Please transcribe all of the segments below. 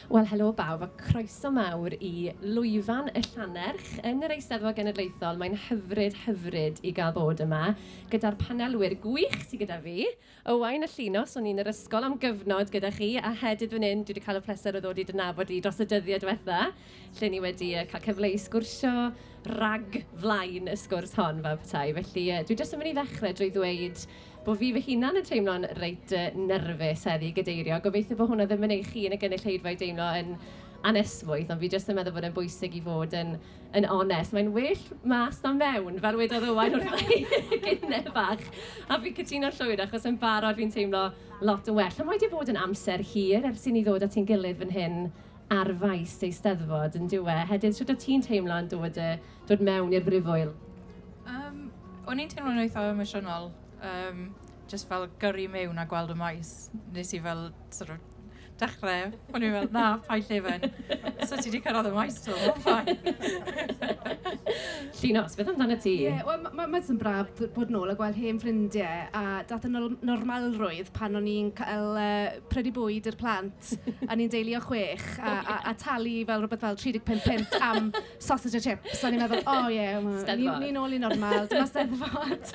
Wel, helo bawb a croeso mawr i lwyfan y Llanerch yn yr Eisteddfod Genedlaethol. Mae'n hyfryd, hyfryd i gael bod yma gyda'r panelwyr gwych sy gyda fi. Owain a Llinos, o'n i yn yr ysgol am gyfnod gyda chi, a Hedydd fan hyn, dwi 'di cael y pleser o ddod i dy nabod di dros y dyddiau diwetha', lle ni wedi yy cael cyfle i sgwrsio rag flaen y sgwrs hon fel petai. Felly yy dwi jyst yn mynd i ddechrau drwy ddweud... Bo' fi fy hunan yn teimlo'n reit yy nyrfys heddi i gadeirio. Gobeithio bo' hwnna ddim yn ei chi yn y gynulleidfa i deimlo yn anesmwyth, ond fi jyst yn meddwl bod e'n bwysig i fod yn yn onest. Mae'n well mas na mewn, fel wedodd Owain wrtha i gynne bach. A fi'n cytuno'n llwyr, achos yn barod fi'n teimlo lot yn well. A mae 'di bod yn amser hir ers i ni ddod ati'n gilydd fan hyn ar faes Eisteddfod, yn dyw e? Hedydd, shwt o't ti'n teimlo yn dod yy... dod mewn i'r Brifwyl? Yym, o'n i'n teimlo'n eitha' emosiynol, yym jyst fel gyrru mewn a gweld y maes. Wnes i fel sort of dechrau, o'n i fel na, paid llefen. So ti 'di cyrraedd y maes 'to, mae'n fine. Llinos, beth amdanat ti? Ie, wel ma' ma' ma' jyst yn braf b- bod nôl a gweld hen ffrindiau a daeth y nol- normalrwydd pan o'n i'n cael yy prynu bwyd i'r plant a ni'n deulu o chwech a a a talu fel rywbeth fel tri deg pump punt am... sausage a chips. O'n i'n meddwl, o oh, ie, yeah, ni'n ni nôl i normal, dyma steddfod.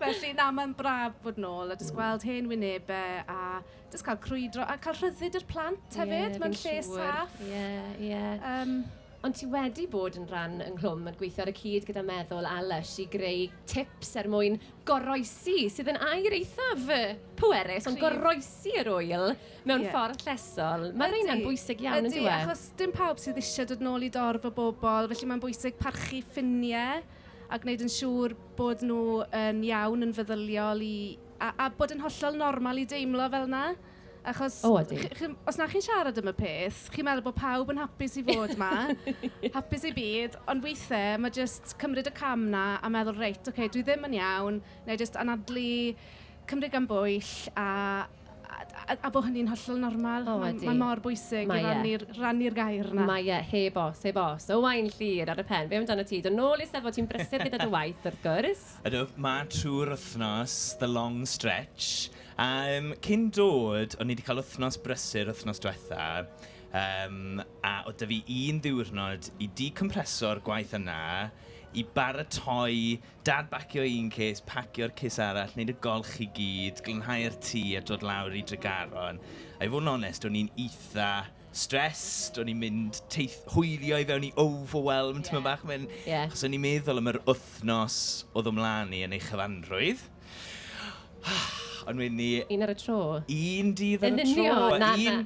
Felly, na, mae'n braf bod nôl a jyst gweld hen wynebau a jyst cael crwydro a cael rhyddid yr plant hefyd. Yeah, mae'n lle saff. Ie, yeah, ie. Yeah. Um, Ond ti wedi bod yn rhan yng Nghlwm yn gweithio ar y cyd gyda meddwl a lush i greu tips er mwyn goroesi, sydd yn air eithaf pwerus, ond goroesi yr wyl mewn yeah. ffordd llesol. Mae rheina'n bwysig iawn yn dweud. Achos dim pawb sydd eisiau dod nôl i dorf o bobl, felly mae'n bwysig parchu ffiniau a gwneud yn siŵr bod nhw yn iawn, yn feddyliol i, a, a bod yn hollol normal i deimlo fel yna. Achos oh, chi, chi, os na chi'n siarad am y peth, chi'n meddwl bod pawb yn hapus i fod yma, hapus i byd, ond weithiau mae jyst cymryd y cam na a meddwl, reit, oce, okay, dwi ddim yn iawn, neu jyst anadlu cymryd gan bwyll a a, a, a bod hynny'n hollol normal. O, ydy. Mae mor bwysig Mae i e. rannu'r gair yna. Mae e, heb os, heb os. Owain Llyr ar y pen, be amdano ti? Dod nôl i Steddfod, ti'n brysur gyda dy waith, wrth gwrs. Ydw, mae trwy'r wythnos, the long stretch. Um, cyn dod, o'n ni wedi cael wythnos brysur wythnos diwetha, um, a o dyfu un ddiwrnod i decompreso'r gwaith yna, i baratoi Dad bacio un cês, pacio'r cês arall, wneud y golch i gyd, glanhau'r tŷ a dod lawr i Dregaron. A i fod yn onest, o'n i'n eitha stressed, o'n i'n mynd teith- hwylio i fewn i overwhelm, timod bach, mae'n... Ie. Achos o'n i'n meddwl am yr wythnos oedd o mlaen i yn ei chyfanrwydd. Ond wedyn 'ny... Un ar y tro. Un dydd ar y tro. Yn union, na, na.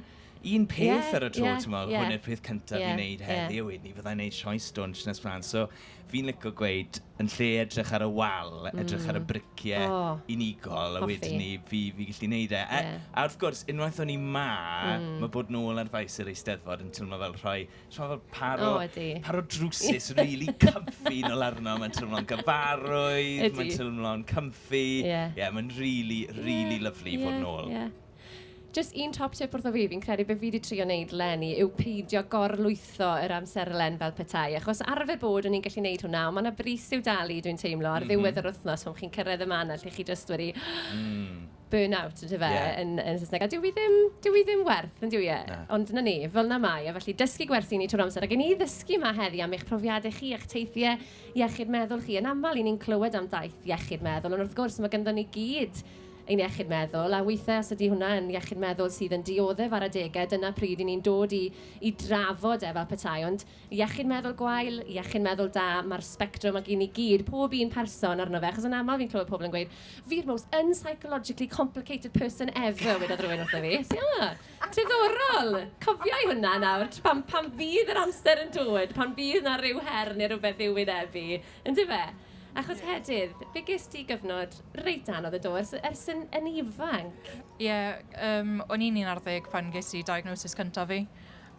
un peth ar y tro, ti'n meddwl, hwn yw'r peth cyntaf fi'n neud heddi, yeah. ni fyddai'n neud sioes stwn Nes Fran. So, fi'n licio gweud, yn lle edrych ar y wal, mm. edrych ar y briciau mm. oh, unigol, a wedyn ni, fi, fi gallu neud e. Yeah. A, a wrth gwrs, unwaith o'n i ma, mm. mae bod nôl ar faes yr eisteddfod yn teimlo fel rhoi, teimlo fel paro, oh, paro drwsus really comfy nôl arno, mae'n teimlo'n gyfarwydd, mae'n teimlo'n comfy. Ie, yeah. yeah, mae'n really, really yeah. lovely yeah. fod nôl. Yeah. Jyst un top tip wrtho fi, fi'n credu be fi 'di trio wneud 'leni yw peidio gor-lwytho yr amserlen fel petai, achos arfer bod o'n i'n gallu wneud hwnna, ond ma' 'na frys i'w dalu, dwi'n teimlo, ar ddiwedd yr wythnos pan chi'n cyrraedd y man 'na lle chi jyst wedi burn out, yn dyfe, yn Saesneg. A dyw 'i ddim, dyw 'i ddim werth, yn dyw e? Ond 'na ni, fel 'na mae e. Felly, dysgu gwersi ni trwy'r amser. A gawn ni ddysgu 'ma heddi am eich profiadau chi, eich teithiau iechyd meddwl chi. Yn aml, 'y ni'n clywed am daith iechyd meddwl, ond wrth gwrs, mae ganddon ni gyd ein iechyd meddwl, a weithiau os ydy hwnna yn iechyd meddwl sydd yn dioddef ar adegau, dyna pryd i ni'n dod i i drafod e fel petai. Ond iechyd meddwl gwael, iechyd meddwl da, mae'r sbectrwm ac i ni gyd, pob un person arno fe, achos yn aml fi'n clywed pobl yn gweud fi'r most unpsychologically complicated person ever, wedodd rhywun wrtho fi. So, yeah, diddorol! Cofia i hwnna nawr, pan, pan fydd yr amser yn dod, pan fydd 'na ryw her neu rywbeth i'w wynebu, Yndyfe? Achos Hedydd, fe ges di gyfnod reit anodd yn do, ers, ers yn, yn ifanc? Ie, yym, o'n i'n 11 pan ges i diagnosis cyntaf fi.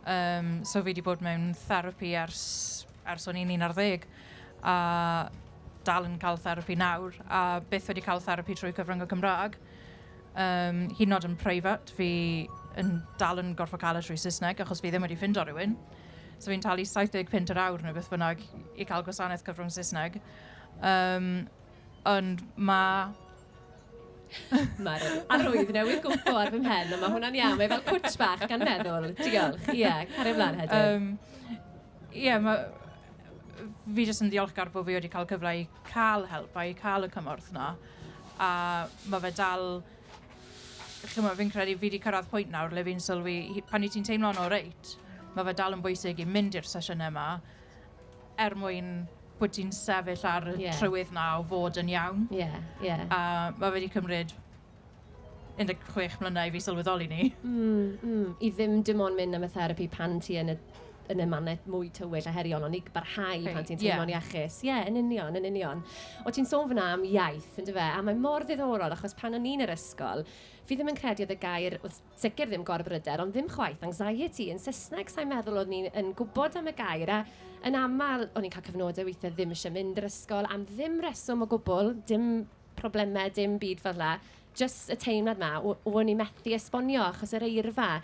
Yym, so fi wedi bod mewn therapi ers, ers o'n i'n 11. A dal yn cael therapi nawr, a byth wedi cael therapi trwy cyfrwng y Cymraeg. Yym, hyd yn oed yn preifat, fi yn dal yn gorfod cael e trwy Saesneg, achos fi ddim wedi ffindo rhywun. So fi'n talu 70 punt yr awr neu beth bynnag i cael gwasanaeth cyfrwng Saesneg. Um, ond mae... Mae'r arwydd newydd gwmpo ar fy mhen, ond mae hwnna'n iawn. Mae fel cwtch bach gan meddwl. Diolch. Ie, yeah, cario flaen hefyd. Um, Ie, yeah, mae... Fi jyst yn ddiolchgar bod fi wedi cael cyfle i cael help a i cael y cymorth yna. A mae fe dal chimod, fi'n credu fi 'di cyrraedd pwynt nawr le fi'n sylwi, he- pan wyt ti'n teimlo'n oreit, ma' fe dal yn bwysig i mynd i'r sesiynau 'ma, er mwyn bod ti'n sefyll ar y... ie... trywydd 'na o fod yn iawn. Ie, ie. A ma' fe 'di cymryd 16 mlynedd i fi sylweddoli 'ny. Mm, mm. I ddim dim ond mynd am y therapi pan ti yn y yn ymateb mwy tywyll a heriol, ond i barhau pan ti'n teimlo'n iachus. Ie, yn union, yn union. O ti'n sôn fyna am iaith, yn dyfe? A mae mor ddiddorol, achos pan o'n i'n yr ysgol, fi ddim yn credu oedd y gair, oedd sicr ddim gorbryder, ond ddim chwaith anxiety yn Saesneg. Sa i'n meddwl oeddwn ni yn gwybod am y gair, a yn aml o'n i'n cael cyfnodau weithiau ddim eisiau mynd i'r ysgol am ddim reswm o gwbl, dim problemau, dim byd fel 'na. jyst y teimlad 'ma, o- o'n i methu esbonio, achos yr eirfa,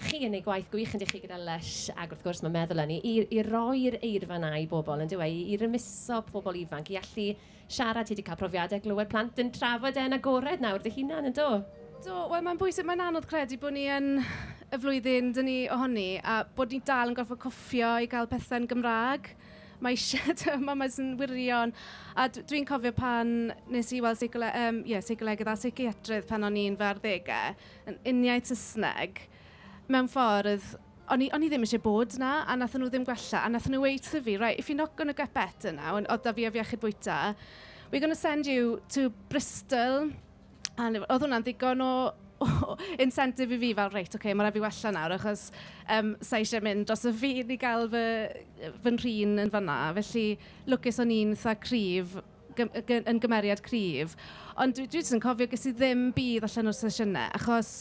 chi yn ei gwaith gwych ynddych chi gyda Lush, ac wrth gwrs mae Meddwl Ynni, i i roi'r eirfa 'na i bobl, yn dyw e, i i rymuso pobl ifanc i allu siarad. Ti 'di cael profiadau glywed plant yn trafod e yn agored nawr dy hunan, yn do? Do, wel mae'n bwysig, mae'n anodd credu bod ni yn y flwyddyn dyn ni ohoni a bod ni dal yn gorfod cwffio i gael pethau'n Gymraeg. Mae eisiau tŷ mamas yn wirion. A dwi'n cofio pan wnes i weld seicoleg- yym ie seicolegydd a seiciatrydd pan o'n i'n fy arddegau, yn uniaith Saesneg, mewn ffordd o'n i o'n i ddim isie bod 'na a wnaethon nhw ddim gwella a wnaethon nhw weud wrtho fi right if you're not going to get better now, oedd 'da fi ef iechyd bwyta, we're going to send you to Bristol A o'n i... oedd hwnna'n ddigon o o incentive i fi fel reit ocê ma' raid i fi wella nawr achos yym sa i isie mynd dros y ffin i gael fy fy nhrin yn fan'na. Felly lwcus o'n i'n itha cryf gym- yy gy- yn gymeriad cryf ond dwi dwi jyst yn cofio ges i ddim budd allan o'r sesiynau achos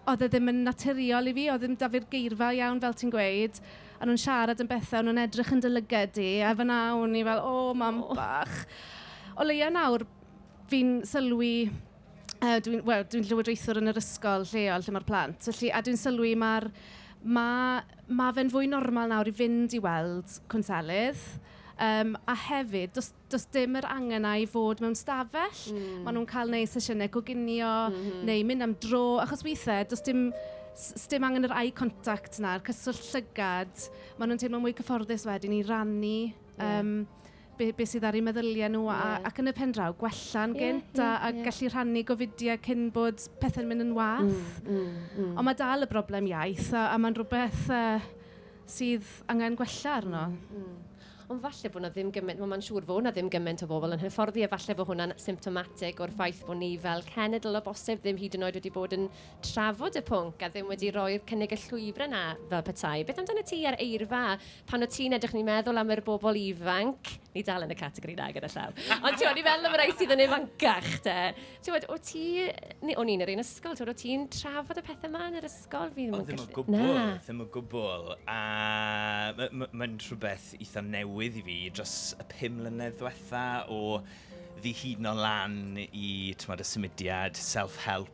oedd e ddim yn naturiol i fi. Oedd ddim 'da fi'r geirfa iawn fel ti'n gweud a o'n nhw'n siarad am bethau a o'n nhw'n edrych yn dy lyged di a fan'na o'n i fel "o mam bach". O leia nawr... Fi'n sylwi, uh, dwi'n well, dwi llywodraethwr yn yr ysgol lleol lle mae'r plant, felly, a dwi'n sylwi mae'r mae, mae fe'n fwy normal nawr i fynd i weld cwnselydd. Um, a hefyd, does, does dim yr angen na i fod mewn stafell. Mm. Maen nhw'n cael neud sesiynau coginio mm -hmm. neu mynd am dro, achos weithiau, does dim dim angen yr eye contact na'r cyswllt llygad. Maen nhw'n teimlo mwy cyfforddus wedyn i rannu yeah. um, be, be sydd ar eu meddyliau nhw a, yeah. ac yn y pen draw gwella'n yeah, gynt yeah, a, a yeah. gallu rhannu gofidiau cyn bod pethau'n mynd yn wath. Mm, mm, mm. Ond mae dal y broblem iaith a, a mae'n rhywbeth uh, sydd angen gwella arno. Mm, mm. Ond falle bod na ddim gymaint, mae'n siŵr fod na ddim gymaint o bobl yn hyfforddi a falle bod hwnna'n symptomatic o'r ffaith bod ni fel cenedl o bosib ddim hyd yn oed wedi bod yn trafod y pwnc a ddim wedi rhoi'r cynnig y llwybrau 'na fel petai. Beth amdana ti a'r eirfa? Pan o't ti'n edrych ni'n meddwl am yr bobl ifanc, ni dal yn y categori 'na gyda llaw, ond ti'n gwybod, ni'n meddwl am y rhai sydd yn ifancach te. Ti'n gwybod, o't ti, ni, o'n i'n yr un ysgol, ti'n gwybod, o't ti'n trafod y pethau 'ma yn yr ysgol? Fi ddim yn gallu... O, ddim o gwbl. Na. Ddim o gwbl. A mae'n rhywbeth eitha newydd i fi dros y pum mlynedd diwetha o ddihuno lan i, ti'n gwybod, y symudiad, self-help,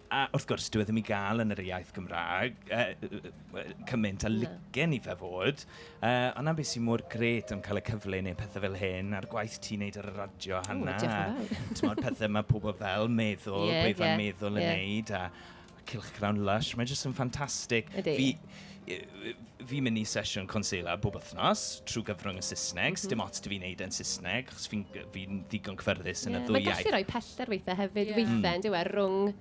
A wrth gwrs, dyw e ddim i gael yn yr iaith Gymraeg, cymaint a licen i fe fod. Ond 'na be sy'n mor grêt am cael y cyfle i wneud pethau fel hyn, a'r gwaith ti'n wneud ar y radio, Hannah. O, diolch yn fawr. Timod, pethau mae pobl fel meddwl, gwefan meddwl yn wneud, a cylchgrawn Lush, mae jyst yn ffantastig. Ydy. Fi'n mynd i sesiwn Consela bob wythnos, trwy gyfrwng y Saesneg. Does dim ots 'da fi wneud e'n Saesneg, achos fi'n fi'n ddigon cyfforddus yn y ddwy iaith... Ie, mae'n gallu rhoi pellter weithiau hefyd, weithiau, yn dyw e, rhwng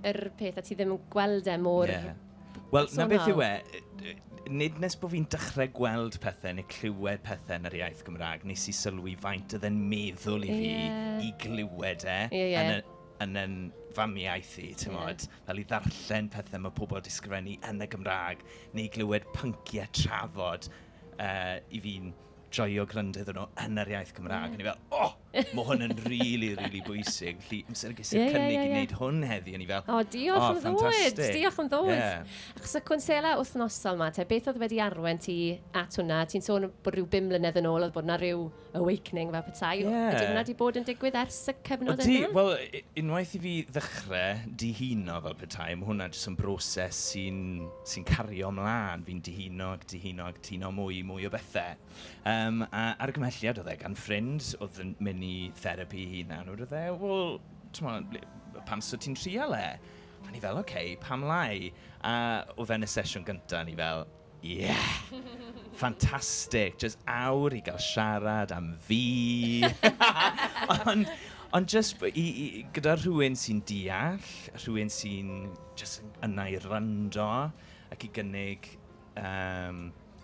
yr peth a ti ddim yn gweld e mor personol. Ie. Wel, 'na beth yw e, nid nes bod fi'n dechrau gweld pethe neu clywed pethe yn yr iaith Gymraeg, wnes i sylwi faint oedd e'n meddwl i fi... Ie. ...i glywed e... Ie, ie. ...yn yn yn famiaith i, timod. fel i ddarllen pethau mae pobl 'di sgrifennu yn y Gymraeg, neu i glywed pynciau trafod, yy, i fi'n joio gwrando iddyn nhw yn yr iaith Gymraeg. O'n i fel, o! Mae hwn yn rili, rili bwysig. Felly, amser ges i'r cynnig i wneud hwn heddi, o'n i fel... O, diolch am ddod! Diolch am ddod! Achos y cwnsela wythnosol 'ma te, beth oedd wedi arwain ti at hwnna? Ti'n sôn bod rhyw bum mlynedd yn ôl oedd bod 'na ryw... awakening fel petai. Yeah. Ydy hwnna wedi bod yn digwydd ers y cyfnod yna? Ydy, wel, unwaith i fi ddechrau dihuno fel petai, mae hwnna jyst yn broses sy'n sy cario ymlaen. Fi'n dihuno ac dihuno ac dihuno mwy, mwy o bethau. Um, a argymhelliad oedd e gan ffrind oedd yn mynd i therapi i hunan. Oedd e, wel, pam sy'n ti'n trial e? A ni fel, oce, okay, pam lai? A oedd e'n y sesiwn gyntaf, ni fel, Ie! Fantastic! Jyst awr i gael siarad am fi! Ond, ond jyst b- i- i- gyda rhywun sy'n deall, rhywun sy'n jyst yn yna i wrando ac i gynnig yym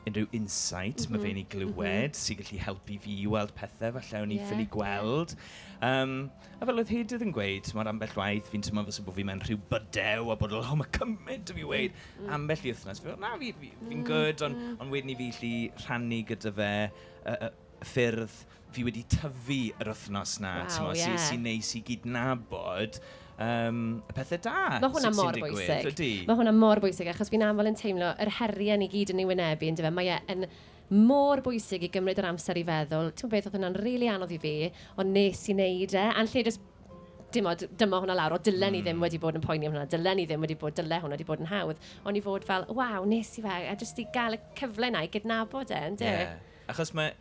unrhyw insight ma' fe'n ei glywed, sy'n gallu helpu fi i weld pethe falle o'n i'n ffili gweld. Yym. A fel oedd Hedydd yn gweud, timod, ambell waith fi'n teimlo fel 'se bo fi mewn rhyw bydew a bod fel 'o ma' cymaint 'da fi weud', ambell i wythnos fi fel 'na, fi fi fi'n gwd', ond ond wedyn i fi 'llu rhannu gyda fe y y ffyrdd fi wedi tyfu yr wythnos 'na, timod, sy sy'n neis i gydnabod yym y pethe da sy sy'n digwydd. Ma' hwnna mor bwysig. Ydy. Ma' hwnna mor bwysig achos fi'n aml yn teimlo yr heriau ni gyd yn ei wynebu yndyfe, mae e yn mor bwysig i gymryd yr amser i feddwl. Timod beth, oedd hwnna'n rili anodd i fi, ond nes i wneud e. A'n lle jyst, timod, dyma hwnna lawr, o dylen i ddim wedi bod yn poeni am hwnna, dylen i ddim wedi bod, dyle hwnna wedi bod yn hawdd. Ond i fod fel, waw, nes i fe, a jyst i gael y cyfle yna i gydnabod e, ynde? Ie, achos mae,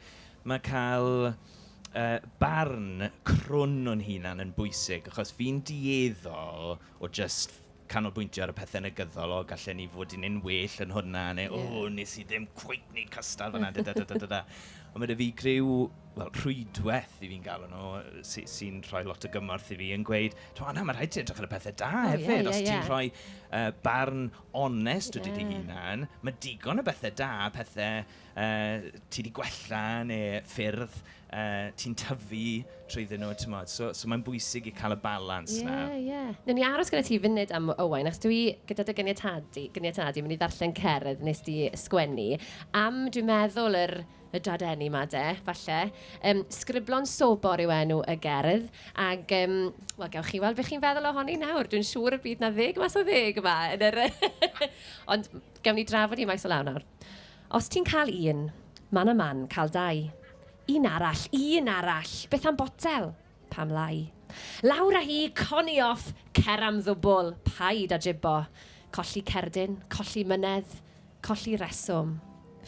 mae cael uh, barn crwn o'n hunan yn bwysig, achos fi'n dieddol o just canolbwyntio ar y pethe negyddol, o gallen ni fod yn un well yn hwnna, neu o, yeah. nes i ddim cweit wneud cystal fyna, da da da da da da. Ond mae dy fi griw, wel, rhwydwaith i fi'n galw nhw, sy'n sy rhoi lot o gymorth i fi yn gweud, to Anna, mae rhaid ti edrych ar y pethau da oh, hefyd, yeah, yeah, os ti'n yeah. rhoi uh, barn onest yeah. wedi dy hunan, mae digon o bethau da, pethau ti 'di gwella neu ffyrdd ti'n tyfu trwyddyn nhw, timod. So, so mae'n bwysig i cael y balans 'na. Ie, ie. Wnawn ni aros gyda ti funud am Owain, achos dwi, gyda dy ganiatâd di, ganiatâd di, mynd i ddarllen cerdd wnes di sgwennu am, dwi'n meddwl, yr, y Dadeni 'ma de, falle. Yym, 'Sgriblo'n Sobor' yw enw y gerdd, ac yym, wel, gewch chi weld be chi'n feddwl ohoni nawr. Dwi'n siŵr y bydd 'na ddeg mas o ddeg yma yn yr... Ond, gewn ni drafod hi maes o law nawr. Os ti'n cael un, man a man, cael dau. Un arall, un arall, beth am botel? Pam lai? Lawr â hi, coni off, cer am ddwbl, paid â jibo. Colli cerdyn, colli mynedd, colli reswm,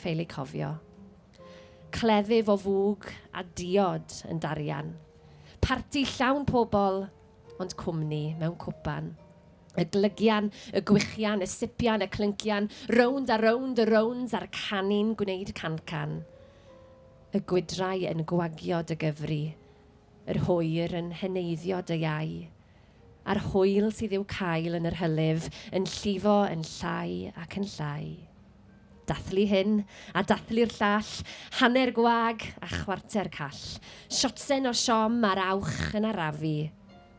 ffeil eu cofio. Cleddyf o fwg a diod yn darian. Parti llawn pobl, ond cwmni mewn cwpan. Y glygian, y gwichian, y sipian, y clyncian, rownd a rownd y rownds a'r canu'n gwneud cancan. Y gwydrau yn gwagio dy gyfri, yr hwyr yn heneiddio dy iau, a'r hwyl sydd i'w cael yn yr hylif yn llifo yn llai ac yn llai. Dathlu hyn, a dathlu'r llall, Hanner gwag, a chwarter call, Siotsen o siom a'r awch yn arafu,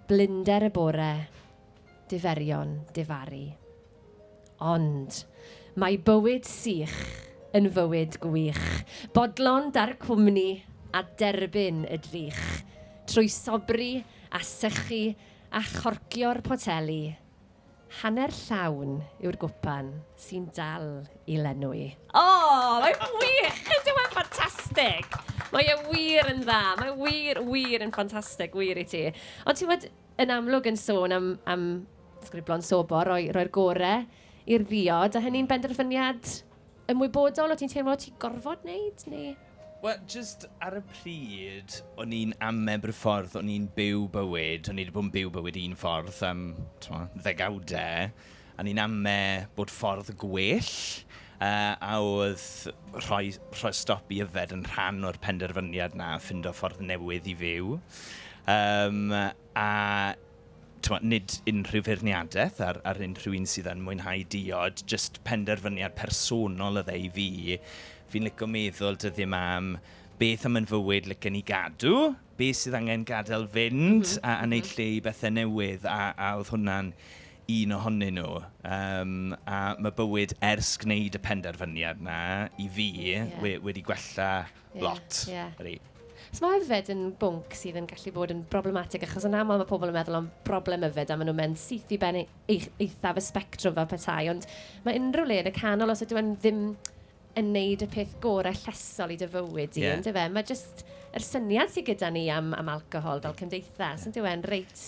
Blinder y bore, diferion difaru. Ond, mae bywyd sych yn fywyd gwych, Bodlon da'r cwmni, a derbyn y drych, Trwy sobri, a sychu, a chorcio'r poteli, Hanner llawn yw'r gwpan sy'n dal i lenwi. O! Mae'n wych! Ydy o'n ffantastig! Mae e wir yn dda. Mae e wir, wir yn ffantastig, wir i ti. Ond ti'n gwybod, yn amlwg yn sôn am, am ddisgriflo'n sobor, rhoi, rhoi'r gorau i'r ddiod, a hynny'n benderfyniad ymwybodol, o ti'n teimlo ti'n gorfod wneud, neu...? Wel, jyst ar y pryd, o'n i'n amebr y ffordd o'n i'n byw bywyd. O'n i 'di bod yn byw bywyd un ffordd am, timod, ddegawdau. A o'n i'n ame bod ffordd gwell, yy, a oedd rhoi rhoi stop i yfed yn rhan o'r penderfyniad 'na a ffindo ffordd newydd i fyw. Yym. a tmod, nid unrhyw feirniadaeth ar, ar unrhyw un sydd yn mwynhau diod, jyst penderfyniad personol oedd e i fi. Fi'n licio meddwl dyddiau yma am beth am yn fywyd licen ni gadw, beth sydd angen gadael fynd, mm -hmm. a, a wneud mhm. lle i bethau newydd, a, a oedd hwnna'n un ohonyn nhw. Um, a mae bywyd ers gwneud y penderfyniad na, i fi, yeah. we, wedi gwella Yeah, Lot. Yeah. Ydy. So mae yfed yn bwnc sydd yn gallu bod yn broblematig, achos yn aml mae pobl yn meddwl am broblem yfed a maen nhw'n mynd syth i ben eithaf y spectrwm fel petai, ond mae unrhyw le yn y canol, os ydw yn ddim yn neud y peth gorau llesol i dy fywyd i, yeah. ynddo fe? Mae jyst yr syniad sydd gyda ni am, am alcohol fel cymdeithas, ynddo fe'n reit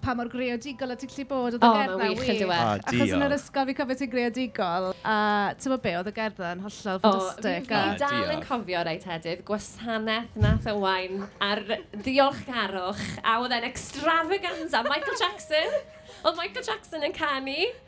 pa mor greadigol o ti'n gallu bod. Oedd y gerdd 'na wych. O, mae'n wych yn dyw e? O, diolch. Achos yn yr ysgol, fi'n cofio ti'n greadigol, a tibod be, oedd y gerdd 'na yn hollol ffantastig. O, fi dal yn cofio rhai tedydd, gwasanaeth wnaeth Owain ar ddiolchgarwch, a oedd e'n extravaganza! Michael Jackson! Oedd Michael Jackson yn canu!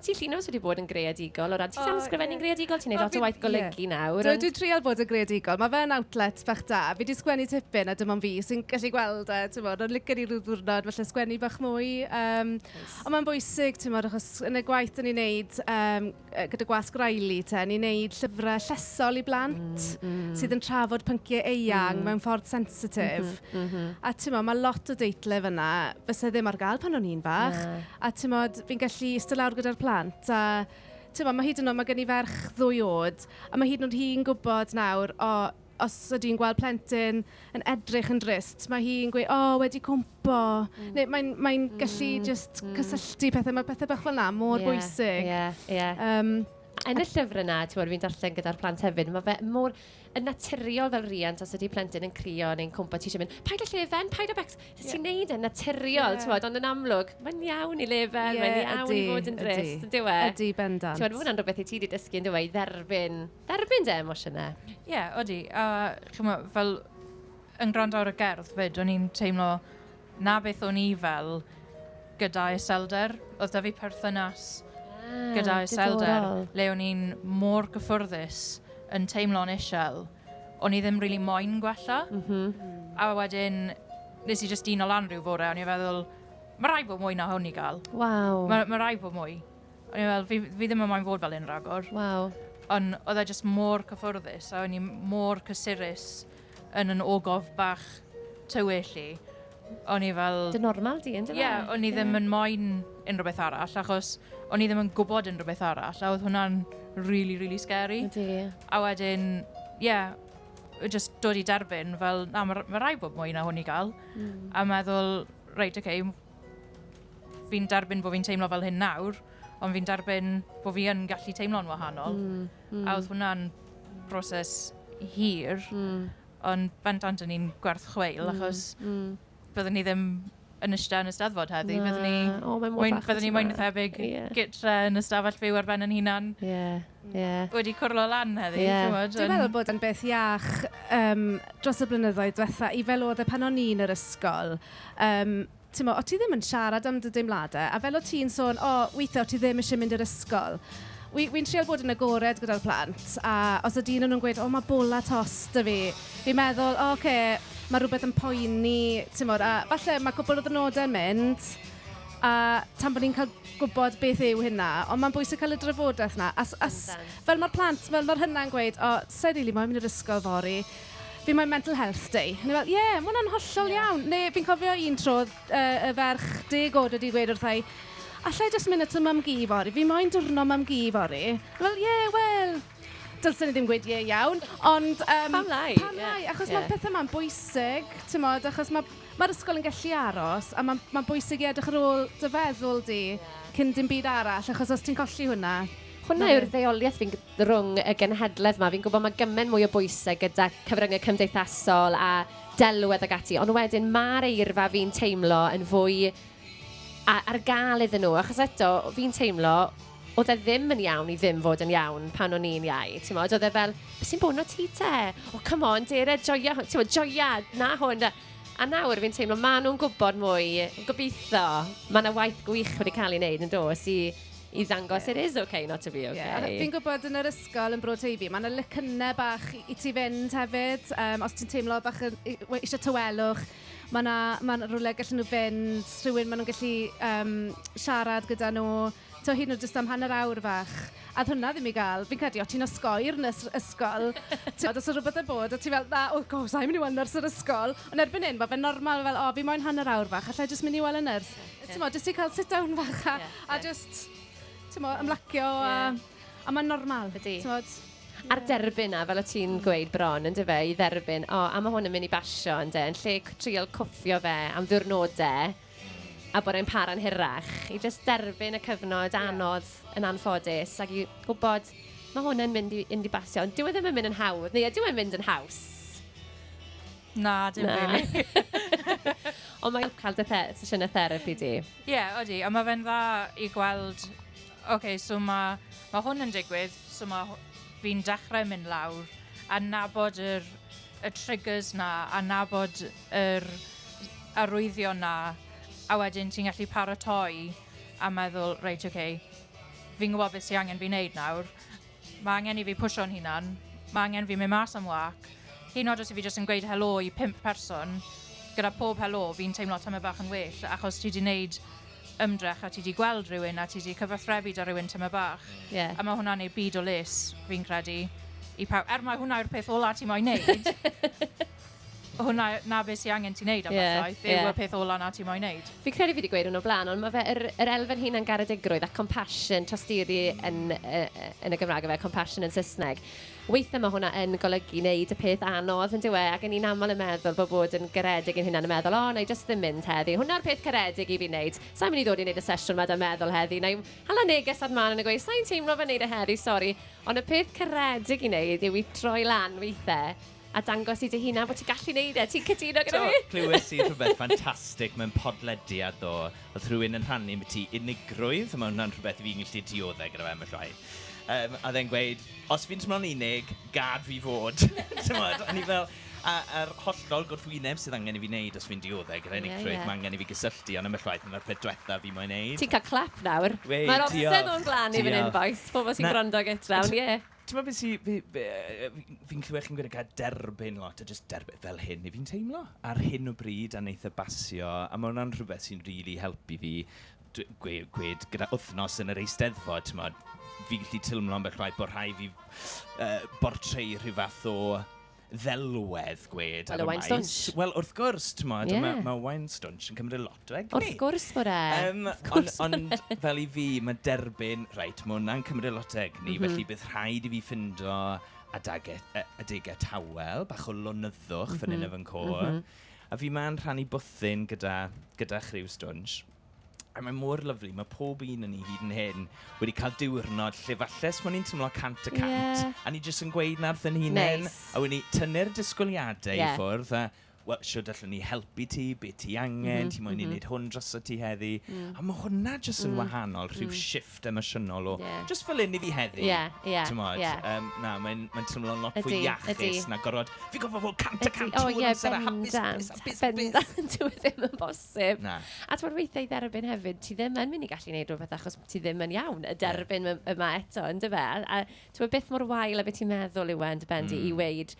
Ti Llinos wedi bod yn greadigol o ran, ti'n oh, ysgrifennu'n greadigol, ti'n gwneud lot o waith golygu nawr. Dwi wedi trial bod yn greadigol, mae fe'n outlet bach da. Fi wedi sgwennu tipyn a dim ond fi sy'n gallu gweld e, ti'n bod, ond licen i rhyw ddwrnod, felly sgwennu bach mwy. Um, nice. Ond mae'n bwysig, ti'n bod, achos yn y gwaith da ni'n neud um, gyda gwasg Riley, te, ni'n neud llyfrau llesol i blant mm, mm. sydd yn trafod pynciau eang mm. mewn ffordd sensitif. Mm -hmm, mm -hmm. A ti'n bod, mae lot o deitle fyna, fysa ddim ar gael pan o'n i'n fach. Yeah. A ti'n bod, fi'n gallu ista lawr gyda'r plant a timod, ma' hyd yn oed... ma' gen i ferch ddwy oed a ma' hyd yn oed hi'n gwybod nawr o os ydy hi'n gweld plentyn yn edrych yn drist mae hi'n gweud "o wedi cwympo" neu mae'n mae'n gallu jyst cysylltu pethau. Mae pethau bach fel 'na mor bwysig... Ie, ie, ie. ...yym... Yn y llyfr yna, timod, fi'n darllen gyda'r plant hefyd, ma' fe mor... yn naturiol fel riant, os ydy plentyn yn crio neu'n cwmpa, ti eisiau mynd, paid â llefen, paid â becs. Ti'n yeah. neud yn naturiol, yeah. ti'n ond yn amlwg, mae'n iawn i lefen, yeah, mae'n iawn ydy, i fod yn drist, yn diwe. Ydy, bendant. Ti'n fod yn rhywbeth i ti wedi dysgu, yn diwe, i dderbyn, dderbyn dy emosiynau. Ie, yeah, ydy. A, uh, chymod, fel, yn gwrando ar y gerdd fyd, o'n i'n teimlo, 'na beth o'n i fel gyda iselder. Oedd 'da fi perthynas gyda iselder le o'n i'n mor gyffyrddus yn teimlo'n isel, o'n i ddim rili moyn gwella. A wedyn, wnes i jyst dino lan rhyw fore a o'n i'n feddwl, ma' raid bod mwy na hwn i gael. Waw. Ma' ma' raid bod mwy. O'n i'n meddwl, fi fi ddim yn moyn fod fel hyn rhagor. Waw. Ond oedd e jyst mor cyffyrddus a o'n i mor cysurus yn yn ogof bach tywyll i, o'n i fel... Dy normal di, yndyfe? Ie, o'n i ddim yn moyn unrhyw beth arall, achos o'n i ddim yn gwybod unrhyw beth arall, a oedd hwnna'n rili, rili scary. Ydy. A wedyn, ie, jyst dod i derbyn, fel, na, mae ma rai bod mwy na hwn i gael. Mm. A meddwl, reit, oce, okay, fi'n derbyn bod fi'n teimlo fel hyn nawr, ond fi'n derbyn bod fi yn gallu teimlo'n wahanol. Mm. Mm. A oedd hwnna'n broses hir, mm. ond bendant o'n i'n gwerth chweil, mm. achos mm. byddwn ni ddim yn ystod yn y staddfod heddi. Na. Byddwn ni, oh, mwyn, byddwn ni mwyn y thebyg yeah. gytre yn y stafell fyw ar ben yn hunan. Yeah. Yeah. Wedi cwrlo lan heddi. Yeah. Dwi'n meddwl bod yn beth iach um, dros y blynyddoedd diwetha i fel oedd e pan o'n i'n yr ysgol. Um, Timod, o't ti ddim yn siarad am dy deimladau, a fel o't ti'n sôn, o, weithiau o't ti ddim eisiau mynd i'r ysgol. Wi, wi'n trial bod yn agored gyda'r plant, a os ydy un o nhw'n gweud, o, mae bola tost 'da fi, fi'n meddwl, o, ocê, mae rhywbeth yn poeni, timod, a falle mae cwpl o ddyrnodau'n mynd, a tan bod ni'n cael gwybod beth yw hynna. Ond mae'n bwysig cael y drafodaeth 'na. A s- a s- fel mae'r plant, fel mae'r hynna'n gweud, o, sa i rili moyn mynd i'r ysgol fory. be mae Mental Health Day? O'n i fel, ie, ma' hwnna'n hollol iawn. Neu fi'n cofio un tro yy y ferch deg oed wedi gweud wrtha i alla i jyst mynd at y mam-gu fory? Fi moyn diwrnod mam-gu fory. O'n i fel, ie, wel, dylsen i ddim gweud ie iawn, ond yym... Pam lai? Ie. ...pam lai? Achos ma'r pethe 'ma'n bwysig, timod, achos ma' ma'r ysgol yn gallu aros a ma'n ma'n bwysig i edrych ar ôl dy feddwl di cyn dim byd arall achos os ti'n colli hwnna... Hwnna yw'r ddeuoliaeth fi'n g-... rhwng y genhedledd 'ma. Fi'n gwybod mae gymaint mwy o bwysau gyda cyfryngau cymdeithasol a delwedd ac ati, ond wedyn mae'r eirfa fi'n teimlo yn fwy ar gael iddyn nhw, achos eto, fi'n teimlo, oedd e ddim yn iawn i ddim fod yn iawn pan o'n i'n iau, ti'n modd, oedd e fel, beth sy'n bod na ti te? O, come on, dere, joia, ti'n modd, joia, na hwn. A nawr fi'n teimlo, maen nhw'n gwybod mwy, gobeithio, mae yna waith gwych wedi cael ei wneud yn dos i i ddangos it is okay not to be okay. Yeah. Fi'n gwybod yn yr ysgol yn Bro Teifi, mae yna lycynnau bach i ti fynd hefyd. Um, os ti'n teimlo bach yn, eisiau tywelwch, mae yna ma rhywle gallen nhw fynd, rhywun maen nhw'n gallu um, siarad gyda nhw, to hyn nhw jyst am hanner awr fach. A hwnna ddim i gael, fi'n credu, o ti'n osgoir yn ysgol, ti'n os o rhywbeth yn bod, o ti'n fel, na, o, oh, go, sa'n mynd i weld nyrs yr ysgol. Ond erbyn hyn, mae fe'n normal fel, o, fi moyn hanner awr fach, allai jyst mynd i weld y nyrs. Timo, jyst i cael sit down fach a, yeah, a just, timo, ymlacio yeah. a, a mae'n normal. Ydy. Tymod, A'r derbyn na, fel o ti'n gweud bron, yn dyfa, i dderbyn, o, oh, a mae hwn yn mynd i basio, yn de, yn lle trial cwffio fe am ddiwrnodau, a bod e'n para'n hirach, i just derbyn y cyfnod anodd yeah. yn anffodus, ac i gwybod, mae hwn yn mynd i, mynd i basio, ond dyw e ddim yn mynd yn hawdd, neu e dyw e'n mynd yn haws. Na, dim really. Ond mae'n cael dy the sesiynau therapi di. Ie, yeah, odi. A mae fe'n dda i gweld, oce, okay, so mae ma hwn yn digwydd, so mae fi'n dechrau mynd lawr a nabod yr, y triggers na, a nabod yr arwyddion na, a wedyn ti'n gallu paratoi a meddwl, reit, oce, okay, fi'n gwybod beth sy'n angen fi wneud nawr, Mae angen i fi pwsio'n hunan. Mae angen fi mynd mas am wâc. Hyd yn oed os i fi jyst yn gweud helo i pump person, gyda pob helo fi'n teimlo tamaid bach yn well achos ti wedi gwneud ymdrech a ti wedi gweld rhywun a ti wedi cyfathrebu 'da rhywun tamaid bach. Ie. A mae hwnna'n ei byd o les, fi'n credu, i pawb. Er mai hwnna yw'r peth ola ti moyn wneud. hwnna 'na be sy angen ti wneud am yeah, bethau, byw yeah. y peth ola na ti moyn wneud. Fi credu fi wedi gweud hwnnw blaen, ond mae fe yr, yr elfen hunan garedigrwydd a compassion, tosturi yn, yn y Gymraeg fe, compassion yn Saesneg. Weithiau mae hwnna yn golygu wneud y peth anodd yn diwe, ac yn ni'n aml yn meddwl bod bod yn garedig yn hynna'n y meddwl, o, oh, na i just ddim mynd heddi, hwnna'r peth caredig i fi wneud. Sa'n mynd i ddod i wneud y sesiwn yma da meddwl heddi, na i hala neges ar man yn y gweud, sa'n teimlo fe wneud y e heddi, sori, ond y peth caredig i wneud yw i troi lan weithiau a dangos i dy hunan bod ti'n gallu neud e, ti'n cytuno gyda fi? Do, clywes i rhywbeth ffantastig mewn podlediad ddo, oedd rhywun yn rhannu am y ti unigrwydd, mae hwnna'n rhywbeth i fi'n gallu dioddau gyda fe am y llwai. Um, a dde'n gweud, os fi'n teimlo'n unig, gad fi fod. Tymod, a ni fel, a, a'r hollol gwrthwyneb sydd angen i fi wneud os fi'n dioddau gyda unigrwydd, yeah, yeah. mae angen i fi gysylltu, ond am y llwaith, mae'r peth diwetha fi moyn wneud. Ti'n cael clap nawr. Mae'r obsedd o'n glan i fan hyn, boys, pobl sy'n gwrando gytra, ond ie. Yeah. Timod be sy... fi- yy fi'n clywed chi'n gweud gair 'derbyn' lot, a jyst derbyn, fel hyn 'y fi'n teimlo, ar hyn o bryd, a wneith e basio. A ma' hwnna'n rhywbeth sy'n rili helpu fi dw- gwe- gwed gyda wythnos yn yr Eisteddfod, timod, fi'n gallu teimlo ambell waith bod rhaid fi yy bortreadu rhyw fath o... ddelwedd gwed ar y maes. Wel, y wine stunch. Wel, wrth gwrs, t'mod, yeah. mae ma wine stunch yn cymryd lot o egni. Wrth gwrs bod e. Um, wrth gwrs on, Ond e. fel i fi, mae derbyn, reit, mae hwnna'n cymryd lot o egni, mm -hmm. felly bydd rhaid i fi ffindo adegau, adegau tawel, bach o lonyddwch mm -hmm. fan hyn mhm. yn fy nghôr. Mm -hmm. A fi ma'n rhannu bwthyn gyda, gyda chryw stwnsh. A mae mor lyfli, mae pob un o ni hyd yn hyn wedi cael diwrnod lle falle 'swn ni'n teimlo 100 y cant... Ie. ...a ni jyst yn gweud 'na wrth ein hunain... Neis. ...a wedyn ni tynnu'r disgwyliadau i ffwrdd a wel, shwt allwn ni helpu ti, be ti angen, ti moyn i ni wneud hwn drosto ti heddi. A mae hwnna jyst yn wahanol, rhyw shift. shift emosiynol o yeah. just fel un i fi heddi. Yeah, yeah, Tymod, yeah. Um, na, mae'n mae teimlo'n lot fwy iachus na gorfod. Fi gofio fod cant a cant oh, yeah, amser a hapus, hapus, hapus, hapus. Dwi ddim yn bosib. Na. A ti'n weithiau i dderbyn hefyd, ti ddim yn mynd i gallu gwneud rhywbeth achos ti ddim yn iawn y derbyn yeah. yma eto, yn dy fel. A ti'n beth mor wael a beth ti'n meddwl yw e, yn dy bendi, mm. i weid,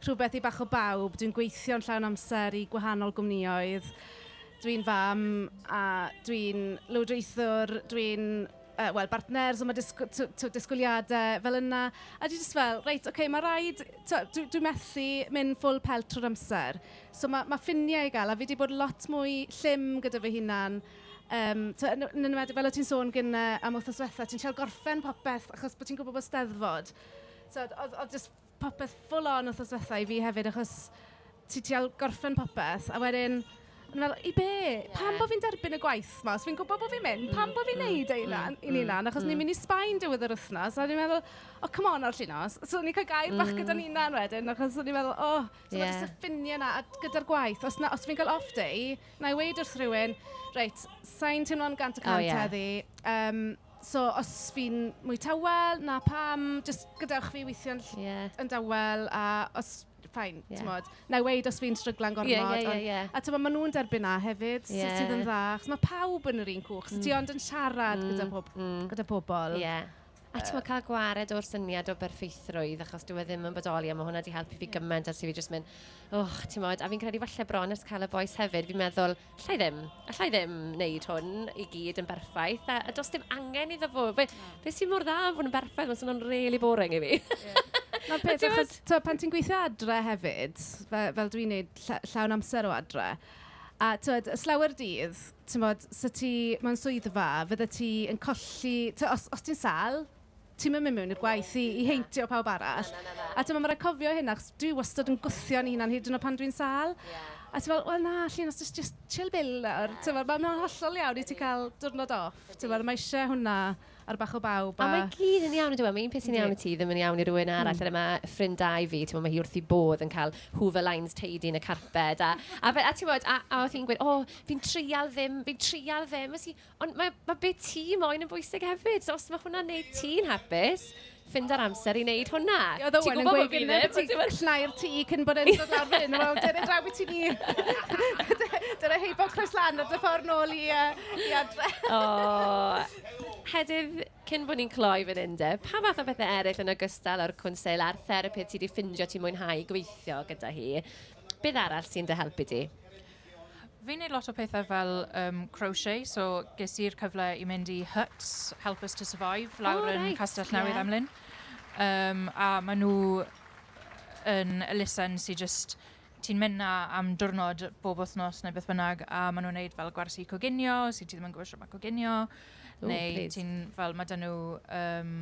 Rhywbeth i bach o bawb. Dwi'n gweithio'n llawn amser i gwahanol gwmnioedd. Dwi'n fam a dwi'n lywodraethwr. Dwi'n yy wel bartner so ma' disg- tw- tw- disgwyliadau fel yna. A dwi jyst fel reit ocê ma' raid tibod dwi dwi methu mynd full pelt trwy'r amser. So ma' ma' ffiniau i gael a fi 'di bod lot mwy llym gyda fy hunan yym tibod yn yn enwedig fel o't ti'n sôn gynnau am wythnos ddiwetha'. Ti'n treial gorffen popeth achos bo' ti'n gwybod bod Steddfod tibod oedd oedd jyst... popeth full on wthnos dwetha i fi hefyd achos ti trial gorffen popeth a wedyn o'n i fel i be? Pam bo fi'n derbyn y gwaith 'ma os fi'n gwbo bo fi'n mynd? Pam bo fi'n neud e i na- i'n hunan achos ni'n mynd i Sbaen diwedd yr wthnos a o'n i'n meddwl o come on ar llinos. So o'n i'n cael gair bach gyda'n hunan wedyn achos o'n i'n meddwl o so ma' jyst y ffinie 'na a gyda'r gwaith os na- os fi'n cael off day wna i weud wrth rhywun reit sa i'n teimlo'n gant y cant heddi yym... So os fi'n mwy tawel, 'na pam, jyst gadewch fi weithio'n ll-... Ie. ...yn dawel a os... fine... Ie. ...timod. Wna i weud os fi'n stryglan gormod... Ie ie ie ie. ...ond... a timod, maen nhw'n derbyn 'na hefyd... Ie. ...sy- sydd yn dda, achos ma' pawb yn yr un cwch. So ti ond yn siarad gyda pob... mm mm. ...gyda pobl. Ie. A timod, cael gwared o'r syniad o berffeithrwydd, achos dyw e ddim yn bodoli, a ma' hwnna 'di helpu fi gymaint ers i fi jyst mynd "O, timod." A fi'n credu falle bron ers cael y bois hefyd, fi'n meddwl... alla i ddim, alla i ddim wneud hwn i gyd yn berffaith, a, a does dim angen iddo fo. Fe, no. fe sy'n mor dda am fod yn berffaith, mae'n swnio'n really boring i fi. Yeah. Na peth, achos to, pan ti'n gweithio adre hefyd, fe, fel dwi'n neud lla, llawn amser o adre, a tywed, y slawer dydd, ti'n bod, sy ti mewn swyddfa, fydde ti yn colli, tywed, os, os ti'n sal, ti'm yn mynd mewn i'r gwaith i, i heintio pawb arall. Na, na, na, na. A ti'n meddwl, mae rhaid cofio hyn, achos dwi wastad yn gwthio'n un hunan hyd yn o pan dwi'n sal. Yeah. A ti'n meddwl, wel na, llun, os just chill bil nawr. Yeah. Ti'n meddwl, mae'n hollol iawn i ti cael diwrnod off. Ti'n meddwl, mae eisiau hwnna ar bach o bawb. A, a mae gyd yn iawn, dwi'n meddwl, mae un peth sy'n iawn i ti, ddim yn iawn i rhywun arall. Mm. Yna mae ffrindau fi, ti'n meddwl, mae hi wrth i bodd yn cael hoover lines teidi yn y carped. A, a, a, a ti'n meddwl, a, a oedd hi'n gweud, o, oh, fi'n treial ddim, fi'n treial ddim. Ys i, Ond mae, mae be ti moyn yn bwysig hefyd. So os mae hwnna'n neud ti'n hapus, ffind yr amser i wneud hwnna. Oedd Owen yn gweud gyda ti llnau'r tŷ cyn bod e'n dod lawr fyn. Wel, dyna draw i ti ni. dyna heibo croes lan ar dy ffordd nôl i, uh, i adre. o, Hedydd, cyn bod ni'n cloi fan hyn de, pa fath o bethau eraill yn ogystal â'r cwnsel a'r therapydd ti wedi ffindio ti'n mwynhau gweithio gyda hi? Beth arall sy'n dy helpu di? Fi'n neud lot o pethau fel um, crochet, so ges i'r cyfle i mynd i Huts, Help Us To Survive, lawr oh, yn right. Castell Newydd yeah. Emlyn. Um, a maen nhw yn elusen sy'n just ti'n mynd na am diwrnod bob wythnos neu beth bynnag a maen nhw'n neud fel gwersi coginio, sy'n ti ddim yn gwybod sut mae coginio, oh, neu ti'n fel, mae dyn nhw um,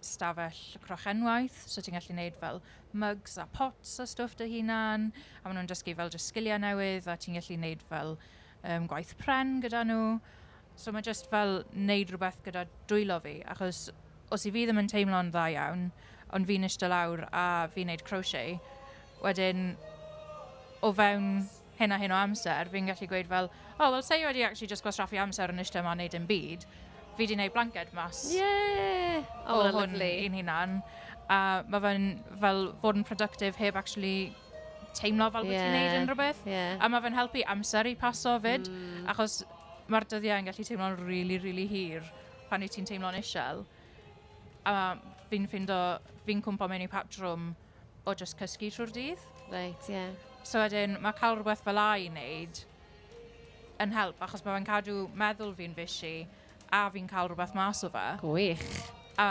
stafell crochenwaith, so ti'n gallu neud fel mugs a pots a stwff dy hunan, a ma' nhw'n dysgu fel jyst sgiliau newydd a ti'n gallu neud fel yym gwaith pren gyda nhw. So ma' jyst fel neud rhywbeth gyda dwylo fi, achos os 'y fi ddim yn teimlo'n dda iawn, ond fi'n ishte lawr a fi'n neud crochet, wedyn o fewn... hyn a hyn o amser, fi'n gallu gweud fel, o, wel, sa i wedi actually just gwastraffu amser yn eistedd yma yn neud dim byd. Fi wedi neud blanced mas. Yeah! O, o hwn i'n hunan. A mae fe'n fel fod yn productive heb actually teimlo fel bod yeah. ti'n neud yn rhywbeth. Yeah. A mae fe'n helpu amser i paso fyd, mm. achos mae'r dyddiau yn gallu teimlo'n rili, really, rili really hir pan i ti'n teimlo'n eisiau. A fi'n ffindo, fi'n cwmpa mewn i patrwm o jyst cysgu trwy'r dydd. Reit, ie. Yeah. So wedyn, mae cael rhywbeth fel la i wneud yn help, achos mae fe'n cadw meddwl fi'n fishy a fi'n cael rhywbeth mas o fe. Gwych. A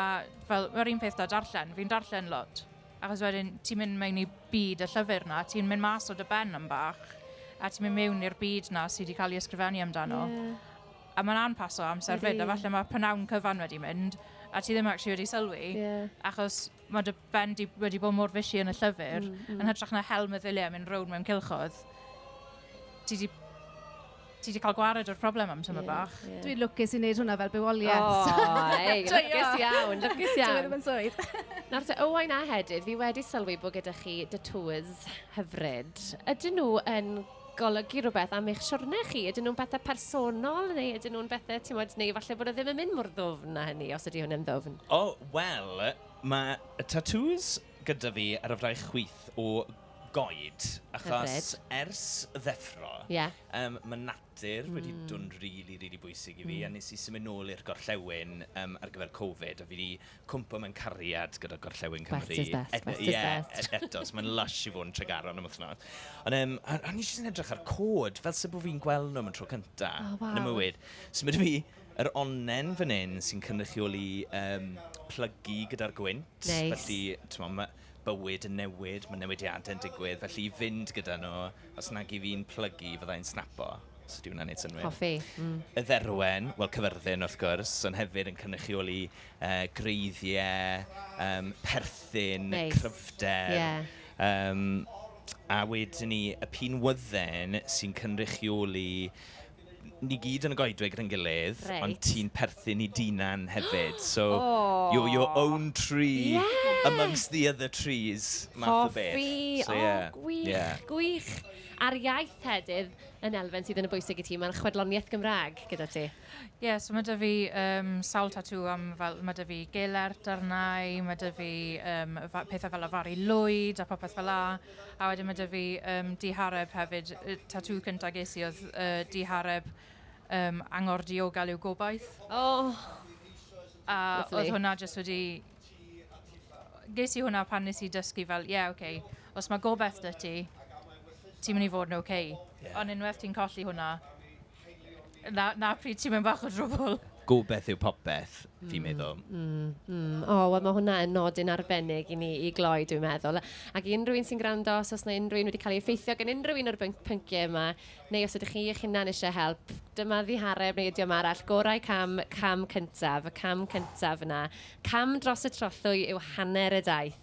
fel, mae'r un peth da darllen, fi'n darllen lot. Achos wedyn, ti'n mynd mewn i byd y llyfr na, ti'n mynd mas o dy ben am bach, a ti'n mynd mewn i'r byd na sydd wedi cael ei ysgrifennu amdano. Yeah. A mae'n anpaso amser fyd, a falle mae pnawn cyfan wedi mynd, a ti ddim actually wedi sylwi, yeah. achos mae dy ben di wedi bod mor fishy yn y llyfr, mm, mm. yn hytrach na hel meddyliau yn mynd rownd mewn cilchoedd, ti di ti wedi cael gwared o'r problem am tyma yeah, bach. Yeah. Dwi'n lwcus i wneud hwnna fel bywoliaeth. O, oh, ei, lwcus iawn, lwcus iawn. Dwi'n mynd swydd. Nawr te, Owain a Hedydd, fi wedi sylwi bod gyda chi dy tours hyfryd. Ydyn nhw yn golygu rhywbeth am eich siwrne chi? Ydyn nhw'n bethau personol neu ydyn nhw'n bethau, ti'n modd, neu falle bod e ddim yn mynd mor ddwfn na hynny, os ydy hwn yn ddwfn? O, wel, mae tatŵs gyda fi ar y fraich chwith o goed, achos ers ddeffro, mae natur wedi bod yn rili, rili bwysig i fi, a wnes i symud nôl i'r gorllewin ar gyfer Covid, a fi 'di cwmpo mewn cariad gyda Gorllewin Cymru. Best is best, e- best is yeah, best. E- eto, so mae'n lush i fod yn Tregaron am wythnos. Ond um, o'n i jyst yn edrych ar cod, fel sef bod fi'n gweld nhw am y tro cynta oh, wow. yn y mywyd. So mae fi yr onnen fan hyn sy'n cynrychioli um, plygu gyda'r gwynt. Nice. Felly, ti'n bywyd yn newid, mae newidiadau yn digwydd, felly i fynd gyda nhw, os nag i fi'n plygu, fydda i'n snapo, os ydy hwnna'n wneud synnwyr. Hoffi. Mm. Y dderwen, wel cyfyrddin wrth gwrs, ond hefyd yn cynrychioli uh, greiddiau, um, perthyn, nice. cryfder. Yeah. Um, a wedyn ni, y pin wydden sy'n cynrychioli ni gyd yn y goedwig rhy'n gilydd, ond ti'n perthyn i Dinan hefyd, so you're your own tree amongst the other trees math o beth. Cofi! O, gwych, gwych! A'r iaith Tedydd yn elfen sydd yn y bwysig i ti, mae'n chwedloniaeth Gymraeg gyda ti. Ie, so mae 'da fi sawl tatŵ am fel, mae 'da fi gelert, darnau, mae 'da fi pethau fel afaru lwyd a popeth fel 'na. A wedyn mae 'da fi yym dihareb hefyd. Y tatŵ cynta ges i oedd yy dihareb yym angor diogel yw gobaith. O! A oedd hwnna jyst wedi... Ges i hwnna pan wnes i dysgu fel ie ok, os mae gobaith 'da ti, ti'n mynd i fod yn ok. Ond unwaith ti'n colli hwnna... 'na 'na pryd ti mewn bach o drwbwl. Gobeith yw popeth, fi'n meddwl. Mm, mm, mm. O, wel mae hwnna yn nodyn arbennig i ni i gloi, dwi'n meddwl. Ac i unrhyw un sy'n gwrando, os oes yna unrhyw un wedi cael ei effeithio gan unrhyw un o'r byn- pynciau yma, neu os ydych chi eich hunan eisiau help, dyma ddihareb neu ydiom arall, gorau cam, cam cyntaf, y cam cyntaf yna. Cam dros y trothwy yw hanner y daith.